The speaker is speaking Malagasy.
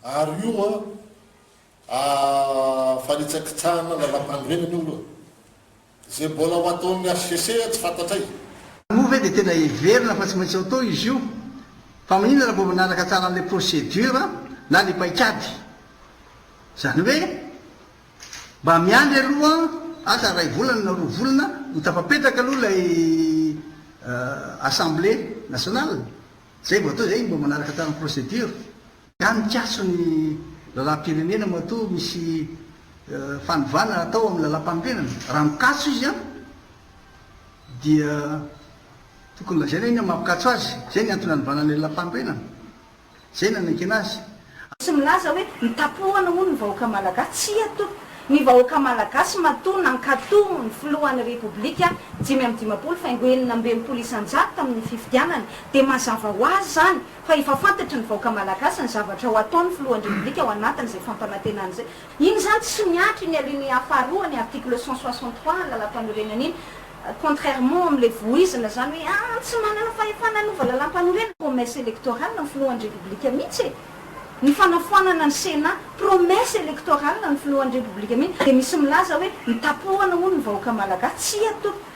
Ary io an, a, fanitsakitsahana ny lalampanorenana io aloha. Izay mbola ho ataon'ny HCC tsy fantatray. Moa ve dia tena heverina fa tsy maintsy atao izy io? Fa maninona raha vao manaraka tsara an'ilay procédure na ilay paikady? Izany hoe mba miandry aloha asa iray volana na roa volana ho tafapetraka aloha ilay assemblée nationale, izay vao atao izay mba manaraka tsara ny procédure. Ka mikatso ny lalam-pirenena matoa misy fanovana hatao amin'ny lalam-panorenana. Raha mikatso izy an, dia tokony lazaina inona ny maha mpikatso azy. Izay ny antony hanovana ny lalam-panorenana. Izay no hanekena azy. Tsy milaza hoe nitapohana hono ny vahoaka Malagasy. Tsia toa. Ny vahoaka Malagasy matoa nankato ny filohan'ny Repoblika dimy amby dimampolo faingo enina amby enimpolo isan-jato tamin'ny fifidianana. Dia mazava ho azy izany. fa efa fantatry ny vahoaka malagasy ny zavatra ho ataon'ny filohan'ny repoblika ao anatin'izay fampanantenana izay. Iny izany tsy mihatra iny alinéa faharoan'ny article cent soixante trois ny lalam-panorenana iny, contrairement amin'ilay voizina izany hoe ah tsy manana fahefana hanova lalam-panorenana, promesse électorale ny filohan'ny repoblika mihitsy e! ny fanafoanana ny sénat, promesse électorale ny filohan'ny repoblika mihitsy, dia misy milaza hoe nitapohana hono ny vahoaka malagasy, tsia tompoko.